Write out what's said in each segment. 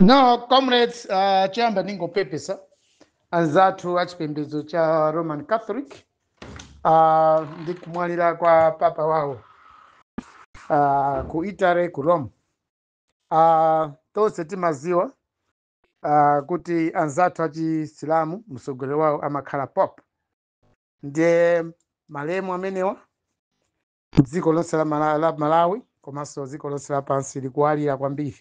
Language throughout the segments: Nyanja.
No, comrades, uh, chiyamba ndingopepesa anzathu achipembedzo cha Roman Catholic uh, ndi kumwalira kwa papa wawo uh, ku Italy ku Rome. Uh, tonse timaziwa uh, kuti anzathu achisilamu mtsogoleri wawo amakhala Pope ndiye malemu amenewa dziko lonse la Mala- la malawi komanso dziko lonse lapansi likuwalira kwambiri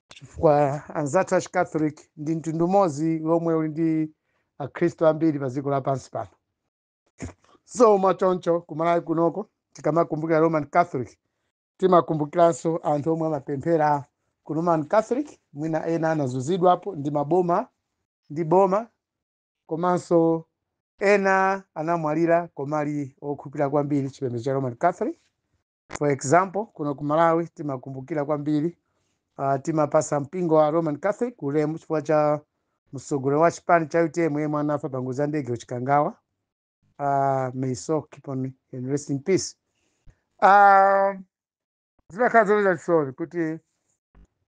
chifukwa anzathu achicatholic ndi mtundu umodzi womwe uli ndi akhristu ambiri pa dziko lapansi pano so mwachoncho ku Malawi kunoko tikamakumbukira roman catholic timakumbukiranso anthu omwe amapemphera ku roman catholic mwina ena anazunzidwapo ndi maboma ndi boma komanso ena anamwalira koma ali okhulupirira kwambiri chipembedzo cha roman catholic for example kuno ku malawi timakumbukira kwambiri uh, timapasa mpingo wa roman catholic ulemu chifukwa cha mtsogoleri wa chipani cha UTM yemwe anafa pa ngozi ya ndege ku Chikangawa uh, may his soul keep on in rest in peace uh, zimakhala zomvetsa chisoni kuti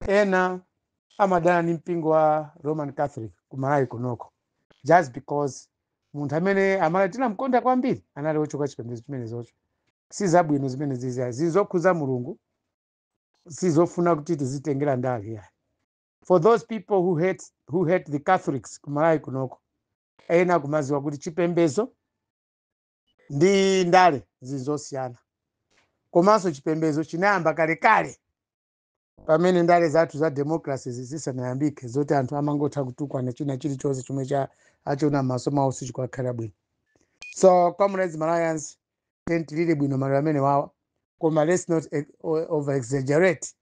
ena amadana ndi mpingo wa roman catholic ku malawi kunoko just because munthu amene aMalawi tinamkonda kwambiri anali wochoka chipembedzo chimenezocho si zabwino zimenezi zi- zili zokhudza mulungu sizofuna kuti tizitengera ndale yayi for those people who hate, who hate the catholics ku Malawi kunoko ena kumaziwa kuti chipembedzo ndi ndale zinthu zosiyana komanso chipembedzo chinayamba kalekale pamene ndale zathu za democracy zisanayambike zoti anthu amangotha kutukwana china chilichonse chomwe cha achiona m'maso mwawo sichikakhala bwino so comrades malawians tiyeni tilire bwino maliro amenewawa koma let's not ex- o- over exaggerate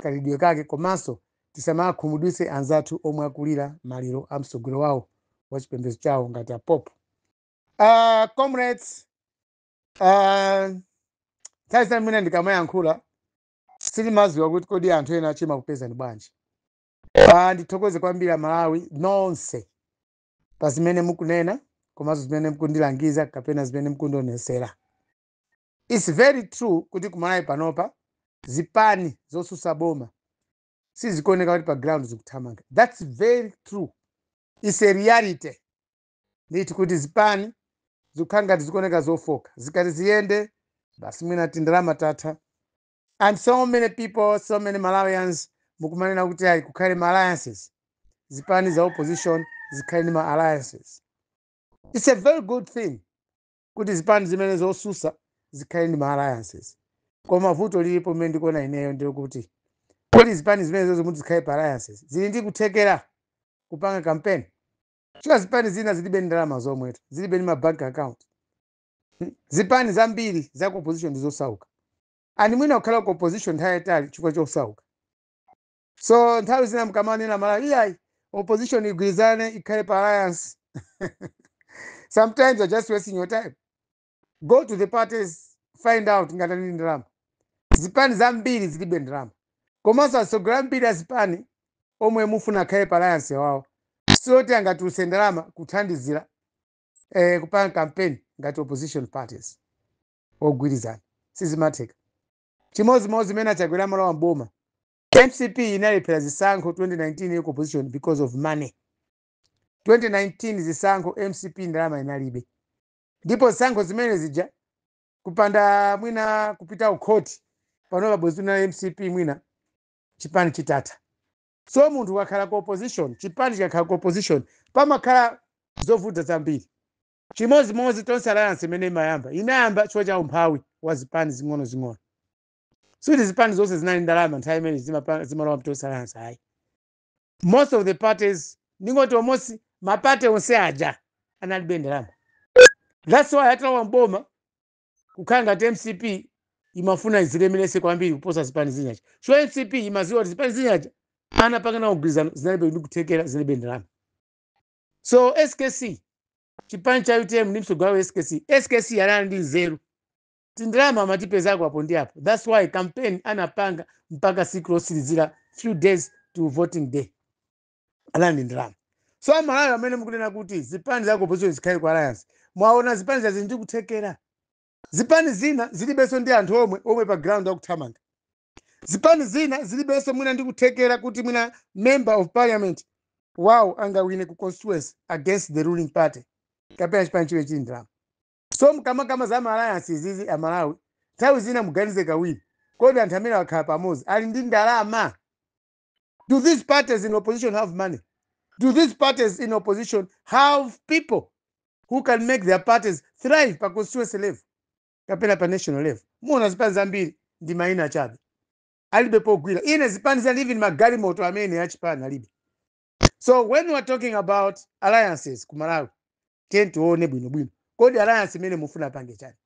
kaliridwe kake komanso tisamakhumudwitse anzathu omwe akulira maliro a mtsogoleri wawo wa chipembedzo chawo ngati a Pope Uh, comrades, uh, nthawi zina mwina ndikamayankhula sindimadziwa kuti kodi anthu ena achima kupezani bwanji. Uh, ndithokoze kwambiri aMalawi nonse pa zimene mukunena komanso zimene mukundilangiza kapena zimene mukundionesera. It's very true kuti ku Malawi panopa zipani zosusa boma sizikuoneka kuti pa ground zikuthamanga. That's very true. It's a reality. ndithu kuti zipani zikukhala ngati zikuoneka zofoka zikati ziyende basi mwina tindalama tatha and so many people so many malawians mukumanena kuti ayi kukhale ma alliances zipani za opposition zikhale ndi ma alliances it's a very good thing kuti zipani zimene zosusa zikhale ndi ma alliances koma vuto lilipo limene ndikuona ineyo ndi lakuti kodi zipani zimenezozo muti zikhale pa alliances zili ndi kuthekera kupanga kampeni Chifukwa zipani zina zilibe ndi ndalama zomwetu, zilibe ndi ma bank account. Hmm? Zipani zambiri za ku opposition ndi zosauka. And mwina kukhala ku opposition nthawi yaitali chifukwa chosauka. So nthawi zina mkamanena a Malawi, iyayi, opposition igwirizane ikhale pa alliance. Sometimes you're just wasting your time. Go to the parties find out ngati ali ndi ndalama. Zipani zambiri zilibe ndalama. Komanso atsogoleri ambiri a zipani omwe mufuna akhale pa alliance awawa si oti angatulutse ndalama kuthandizira eh, kupanga campaign ngati opposition parties ogwirizana. Sizimatheka. Chimodzimodzi zimene achakwera amalowa m'boma. mcp inalephera zisankho 2019 ku opposition because of money 2019 zisankho mcp ndalama inalibe ndipo zisankho zimene zija kupanda mwina kupita kukhoti panopa bwezi na mcp mwina chipani chitatha so munthu ukakhala ku opposition chipani chikakhala ku opposition pamakhala zovuta zambiri chimodzimodzi tonse alliance imene imayamba inayamba chifukwa cha umphawi wa zipani zing'onozing'ono sikuti zipani zonse zinali ndalama nthawi imene zimapa- zimalowa mtonse alliance ayi most of the parties ndingoti almost mapate onse aja analibe ndalama that's why atalowa mboma kukhala ngati mcp imafuna izilemeretse kwambiri kuposa zipani zinazija so mcp imaziwa kuti zipani zinazija anapanga nawo mgwirizano zinalibe ndi kuthekera zinalibe ndalama so skc chipani cha utm ndi mtsogoleri wawo skc skc anali ndi nzeru tindalama amatipezako apo ndi apo thats why campaign anapanga mpaka siku lotsirizira few days to voting day anali ndi ndalama so amalawi amene mukunena kuti zipani za opposition zikhale ku alliance mwaona zipani zake zili ndi kuthekera zipani zina zilibenso ndi anthu omwe omwe pa ground akuthamanga zipani zina zilibenso mwina ndi kuthekera kuti mwina member of parliament wawo angawine ku constituency against the ruling party kapena chipani chomwe chili ndalama So mkamakamba za ma alliance izizi a Malawi, nthawi zina muganize kawiri. Kodi anthu amene akhala pamodzi ali ndi ndalama? Do these parties in opposition have money? Do these parties in opposition have people who can make their parties thrive pa constituency level kapena pa national level? Muona zipani zambiri ndi maina chabe. Alibe pogwira. Ine zipani zina even magalimoto amene achipani alibe. so when we are talking about alliances ku malawi tiyeni tione bwinobwino kodi alliance imene mufuna apange chani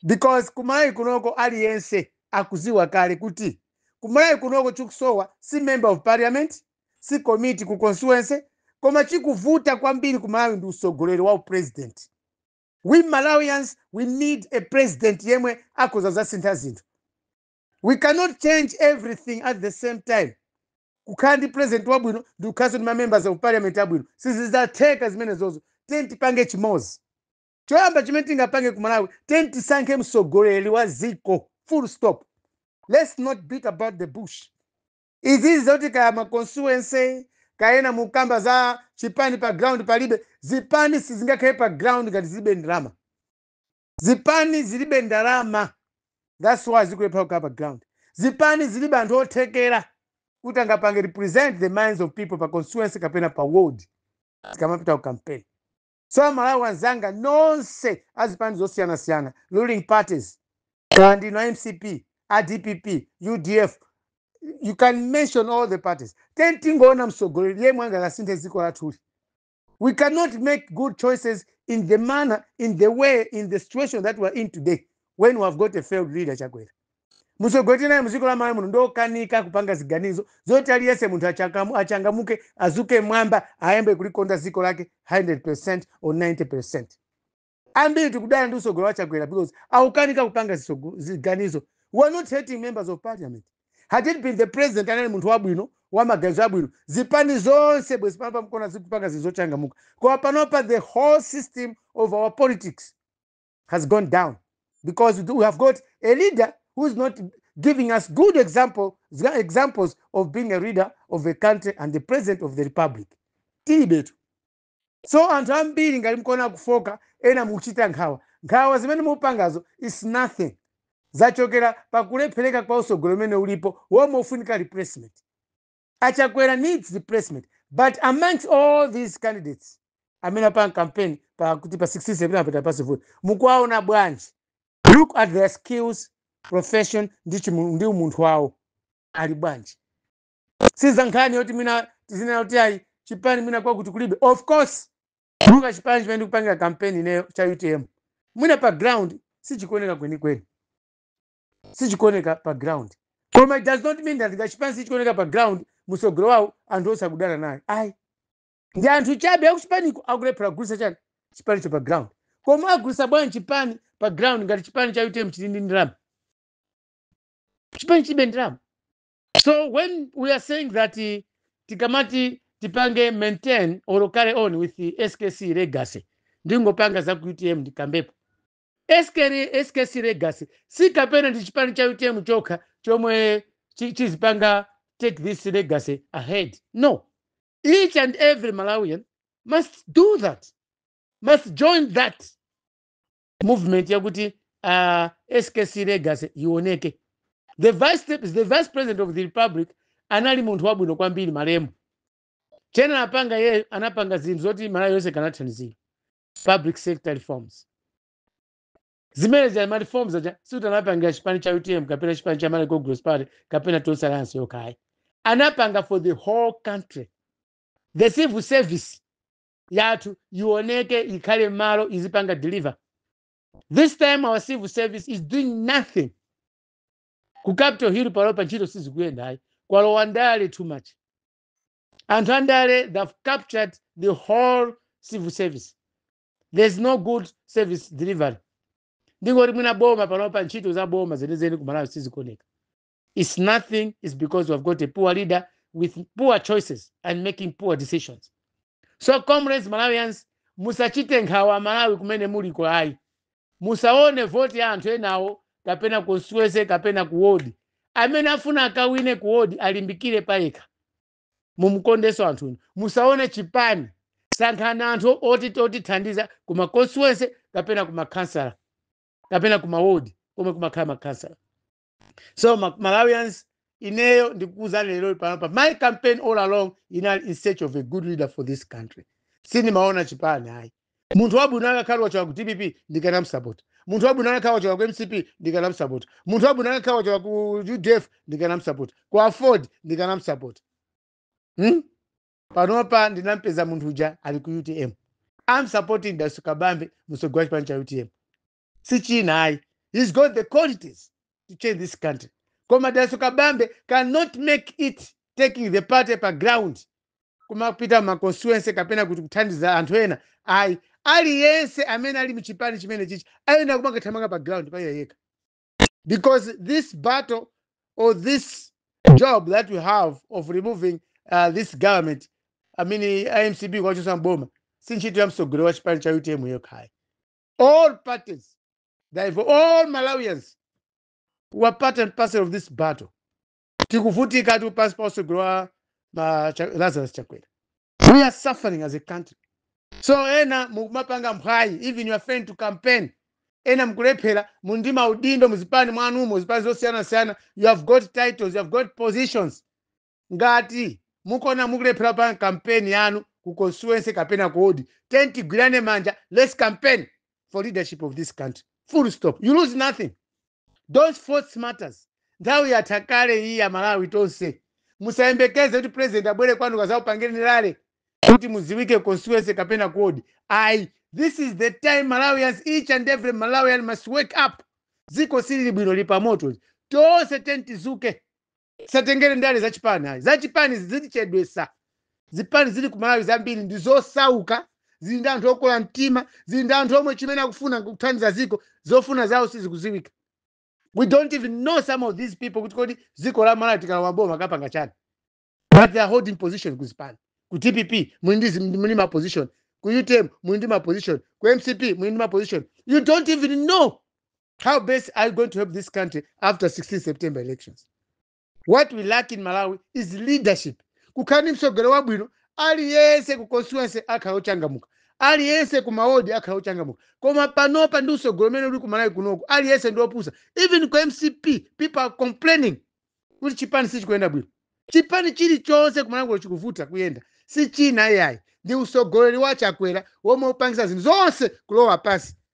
because ku malawi kunoko aliyense akuziwa kale kuti ku malawi kunoko chikusowa si member of parliament si committee ku constituency koma chikuvuta kwambiri ku malawi ndi usogoleri wa upresident we malawians we need a president yemwe akhoza kuzasintha zinthu we cannot change everything at the same time kukhala ndi president wabwino ndi kukhalanso ndi mamembers of parliament abwino sizizatheka zimenezozo tiyeni tipange chimodzi choyamba chimene tingapange ku malawi tiyeni tisankhe mtsogoleri wa ziko full stop let's not beat about the bush izizi zoti kaya ma constituency kaya ena mukamba za chipani pa ground palibe zipani sizingakhale pa ground ngati zilibe ndalama Zipani zilibe ndalama that's why zikulephera kukhala pa ground. Zipani zilibe anthu othekera kuti angapange represent the minds of people pa constituency kapena pa ward zikamapita ku campaign. So amalawi anzanga nonse a zipani zosiyanasiyana ruling parties kaya ndinu a mcp, a dpp, udf you can mention all the parties. Tiyeni tingoona mtsogoleri yemwe angakasinthe dziko lathuli. we cannot make good choices in the manner in the way in the situation that we are in today when we have got a failed leader chakwera mtsogoleri tinaye muziko la malawi muno ndiokanika kupanga ziganizo zoti aliyese munthu achangamuke azuke mwamba ayambe kulikonda ziko lake 100 percent or 90 percent ambiri tikudana ndi usogoleri wa chakwera because akukanika kupanga ziganizo we are not hating members of parliament had it been the president anali munthu wabwino wa maganizo abwino zipani zonse bwezi pano pamkona zikupanga zinthu zochangamuka koma panopa the whole system of our politics has gone down because we have got a leader who is not giving us good examples of being a leader of a country and the president of the republic. Tilibetu. So anthu ambiri ngati mkuona kufooka ena mukuchita nkhawa nkhawa zimene mukupangazo is nothing zachokera pakulephereka kwa usogoleri umene ulipo womwe ufunika replacement. A Chakwera needs replacement but amongst all these candidates amene apanga campaign pa kuti pa 16 September patapase vote mukuwaona bwanji? Look at their skills, profession ndi umunthu wawo ali bwanji? siza nkhani yoti mwina tizinena kuti ayi chipani mwina kwakuti kulibe of course monga chipani chimene ndikupangira kampeni ineyo cha utm mwina pa ground sichikuoneka kwenikweni sichikuoneka pa ground koma it does not mean that ngati chipani sichikuoneka pa ground musogoleri wawo anthu onse akudana naye ayi ndi anthu chabe akuchipaniko akulephera kugulitsa chani chipanicho pa ground koma agulitsa bwanji chipani pa ground ngati chipani cha utm chili ndi ndalama chipani chilibe ndalama so when we are saying that eh, tikamati tipange maintain or carry on with the skc legacy ndingopanga za ku utm ndikambepo skc legacy si kapena ndi chipani cha utm chokha chomwe chizipanga take this legacy ahead no each and every malawian must do that must join that movement yakuti uh, skc legacy ioneke the vice president of the republic anali munthu wabwino kwambiri malemu chimene anapanga iyeyo anapanga zinthu zoti malawi yonse ikanathandizidwa public sector reforms zimene za ma reforms aja sikuti anapangira chipani cha utm kapena chipani cha malawi congress party kapena tonse alliance yokha ayi anapanga for the whole country the civil service yathu ioneke ikhale mmalo izipanga deliver this time our civil service is doing nothing ku capital hill panopa ntchito sizikuyenda ayi kwalowa ndale too much anthu andale they've captured the whole civil service there's no good service delivery ndingoti mwina boma panopa ntchito za boma zenizeni ku malawi sizikuoneka It's nothing. It's because we've got a poor leader with poor choices and making poor decisions. So comrades Malawians, musachite nkhawa Malawi kumene muliko ayi. Musaone voti ya anthu enawo kapena constituency kapena ku ward. Amene afuna akawine ku ward alimbikire payekha. Mumukondenso anthu inu. Musaone chipani. Sankhani anthu otithandiza kuma constituency kapena kuma councillor kapena kuma ward komwe kumakhala ma councillor. so malawians ineyo ndikukuuzani lero panopa my campaign all along inali in search of a good leader for this country sindimaona chipani ayi munthu wabwino akakhala wachoka ku dpp ndikanamsapota munthu wabwino akakhala wachoka ku mcp ndikanamsapota munthu wabwino akakhala wachoka ku udf ndikanamsapota ku aford ndikanamsapota hmm? panopa ndinampeza munthu uja ali ku utm am supporting daliso kabambe mtsogoleri wa chipani cha utm si china ayi he's got the qualities to change this country koma daliso kabambe cannot make it taking the party pa ground kumapita ma constituency kapena kuti kuthandiza anthu ena ayi aliyense amene ali mchipani chimene chichi ayenera kumakathamanga pa ground pa iye yekha because this battle or this job that we have of removing uh, this government I mean, a MCP kuwachotsa mboma si ntchito ya mtsogoleri wa chipani cha utm yokha ayi all parties, all Malawians are part and parcel of this battle. Tikuvutikatu pansi pa usogoleri wa ma- Cha- Lazarus Chakwera. We are suffering as a country. So ena mukumapanga mphwayi even you're afraid to campaign. Ena mukulephera muli ndi maudindo muzipani mwanumo zipani zosiyanasiyana you have got titles, you have got positions. Ngati mukuona mukulephera kupanga campaign yanu ku constituency kapena ku ward, tiyeni tigwirane manja let's campaign for leadership of this country full stop you lose nothing don't force matters nthawi yatha kale iyi aMalawi tonse. Musayembekeze kuti president abwere kwanu kuzakupangirani rally kuti mudziwike ku constituency kapena ku ward ayi this is the time Malawians each and every Malawian must wake up dziko silili bwino lili pa moto tonse tiyeni tidzuke. isatengere ndale za chipani ayi za chipani zitichedwesa zipani zili ku malawi zambiri ndi zosauka zili ndi anthu okora mtima zili ndi anthu omwe chimene akufuna kuthandiza ziko zofuna zawo sizikuziwika we don't even know some of these people kuti kodi ziko la malawi tikalowa boma akapanga chani but they are holding position ku zipani ku dpp muli ndi zi- muli ma position ku utm muli ndi ma position ku mcp muli ndi ma position you don't even know how best are you going to help this country after 16 september elections what we lack in malawi is leadership kukhala ndi mtsogoleri wabwino aliyense ku constituency akhala ochangamuka aliyense ku mawodi akhala ochangamuka koma panopa ndi utsogoleri umene uli ku malawi kunoku aliyense ndi opusa even ku mcp people are complaining kuti chipani sichikuyenda bwino chipani chilichonse ku malawi kuno chikuvuta kuyenda si china iyayi ndi utsogoleri wa chakwera womwe ukupangisa zinthu zonse kulowa pansi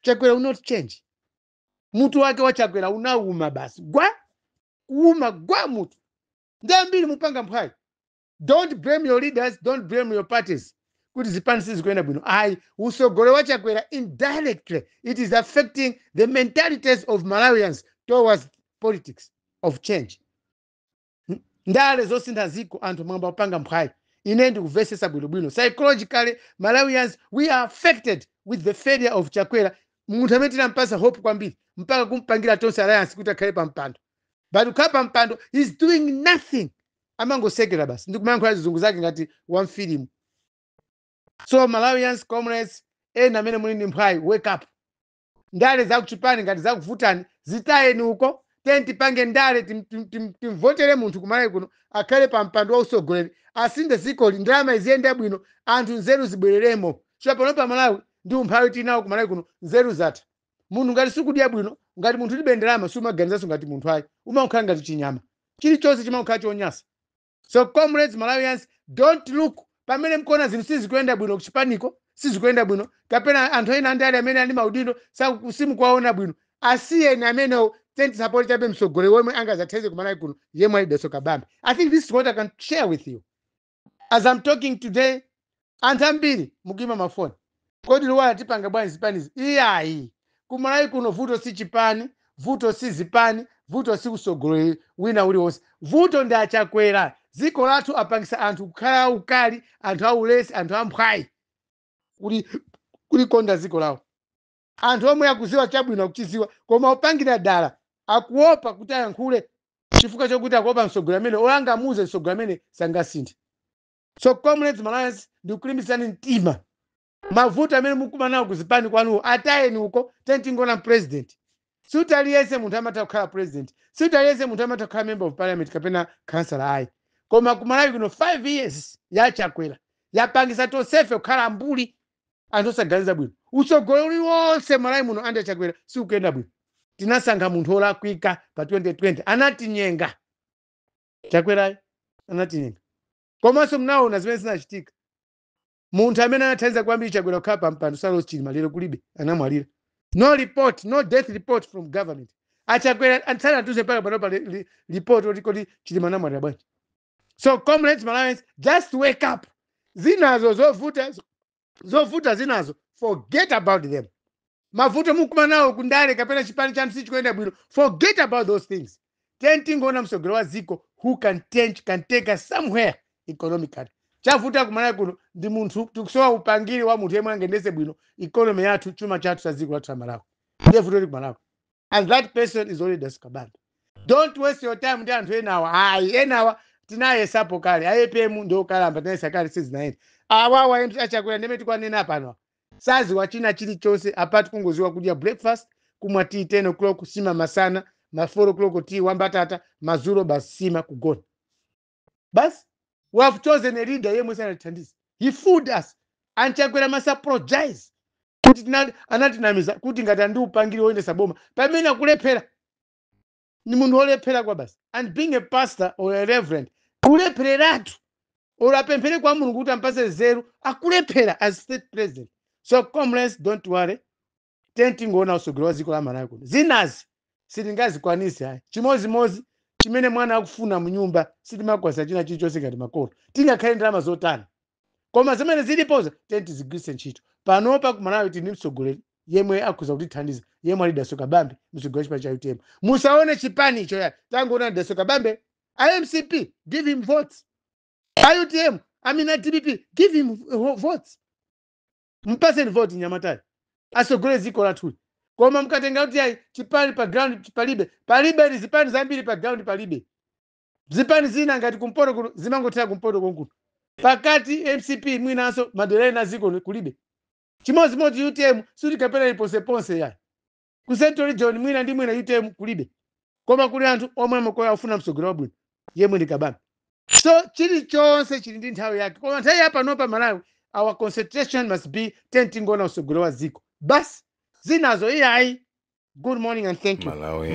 chakwera will not change mutu wake wa chakwera unauma basi gwa kuuma gwa mutu ndiye ambiri mukupanga mphwayi don't blame your leaders don't blame your parties kuti zipani sizikuyenda bwino ayi usogoleri wa chakwera indirectly it is affecting the mentalities of malawians towards politics of change Ndale zosintha ziko anthu mwayamba kupanga mphwayi ine ndikuvesesa bwinobwino psychologically malawians we are affected with the failure of chakwera munthu amene tinampasa hope kwambiri mpaka kumpangira tonse alliance kuti akhale pa mpando but kukhala pa mpando he's doing nothing amangosekera basi ndikumayankhula zizungu zake ngati wa mfilimu so malawians comrades ena amene muli ndi mphwayi wake up ndale za kuchipani ngati zakuvutani zitayeni uko tiyeni tipange ndale tim- tim- tim- timvotere munthu kumalawi kuno akhale pa mpando wa usogoleri asinthe zikoli ndalama iziyende bwino anthu nzeru zibwereremo chifukwa pano pa malawi ndi umphawi tinawo kumalawi kuno nzeru zatha munthu ngati sukudya bwino ngati munthu ulibe ndalama sumaganizanso ngati munthu ayi umakhala ngati chinyama chilichonse chimakhala chonyasa So comrades Malawians don't look pamene mkuona zinthu sizikuyenda bwino kuchipaniko sizikuyenda bwino kapena anthu ena andale amene ali maudindo saku- simukuwaona bwino asiyeni amenewo tiyeni tisapoti chabe mtsogoleri wemwe angazathandize kumalawi kuno yemwe ali Dalitso Kabambe i think this is what i can share with you as i'm talking today Anthu ambiri mukuimba ma phone kodi Luwara tipanga bwanji zipanizi iyayi ku Malawi kuno vuto si chipani vuto si zipani vuto si usogoleri wina uli onse vuto ndi a Chakwera dziko lathu apangisa anthu kukhala aukali anthu aulesi anthu amphwayi kuli kuli konda dziko lawo anthu omwe akudziwa chabwino akuchidziwa koma opangira dala akuopa kuti ayankhule chifukwa chokuti akuopa msogoleri amene olo angamuuze msogoleri amene sangasinthe. So comrades Malawians ndikulimbitsani mtima. Mavuto amene mukumana nawo kuzipani kwanuwo atayeni uko tiyeni tingoona president. Sikuti aliyense munthu amatha kukhala president. Sikuti aliyense munthu amatha kukhala member of parliament kapena councillor ayi. Koma ku Malawi kuno 5 years ya Chakwera yapangisa tonsefe kukhala mbuli anthu osaganiza bwino. Usogoleri uliwonse Malawi muno under Chakwera sikuyenda bwino. Tinasankha munthu olakwika pa 2020 anatinyenga. chakwerayo anatinyenga komanso mnaona zimene zinachitika munthu amene anathandiza kwambiri chakwera kukhala pa mpando saulos chilima lero kulibe anamwalira no report no death report from government achakwera asanatulutse mpaka pano pa li- li- report oti kodi chilima anamwalira bwanji so comrades malawians just wake up zinazo zovuta zovuta zinazo forget about them mavuto mukumana nawo kundale kapena chipani chanu sichikuyenda bwino forget about those things tiyeni tingoona mtsogoleri wa dziko who can change can take us somewhere economically chavuta kumalawi kuno ndi munthu tikusowa upangiri wa munthu yemwe angendese bwino economy yathu chuma chathu cha dziko lathu la malawi ndiye vuto lili kumalawi and that person is only dalitso kabambe don't waste your time ndi anthu enawa ayi enawa tinayesapo kale APM ndi okalamba tinayesa kale sizinayenda awawa em- achakwera ndimene tikwanena pano saziwa china chilichonse apart kungoziwa kudya breakfast kumwa tea 10 o'clock nsima masana ma 4 o'clock tea wambatata madzulo basi nsima kugona basi we have chosen a leader yemwe sanatithandize he fooled us and chakwera must apologize kuti tinali- anatinamiza kuti ngati ali ndi upangiri woyendesa boma pamene akulephera ni munthu wolephera kwabasi and being a pastor or a reverend kulephereratu olo apemphere kwa mulungu kuti ampase nzeru akulephera as state president so comrades don't worry ten tingoona usogoleri wa dziko la malawi kuno zinazi sitingazikwanise ayi chimozimozi chimene mwana akufuna mnyumba sitimakwanisa china chilichonse ngati makolo tingakhale ndalama zotani koma zimene zilipozo tiyeni tizigwiritse ntchito panopa ku malawi tili ndi mtsogoleri yemwe akhoza kutithandiza yemwe ali daso kabambe mtsogoleri wa chipani cha utm musaone chipanicho ya tangoona daso kabambe a mcp give him votes a utm i mean a dpp give him ho- votes mpaseni voti nyamatayi asogolere dziko lathuli koma mukatenga kuti ayi chipani pa ground palibe palibe ni zipani zambiri pa ground palibe zipani zina ngati kumpoto kuno zimangothera kumpoto konkuno pakati mcp mwinanso madera ena dziko kulibe chimodzimodzi utm sikuti kapena ili ponseponse yayi ku central region mwina ndi mwina utm kulibe koma kuli anthu omwe amakoya ofuna mtsogoleri wabwino yemwe ndi kabambe so chilichonse chili ndi nthawi yake koma nthawi ya panopa malawi our concentration must be ten tingoona usogoleri wa dziko basi zinazo iyayi good morning and thank you Malawi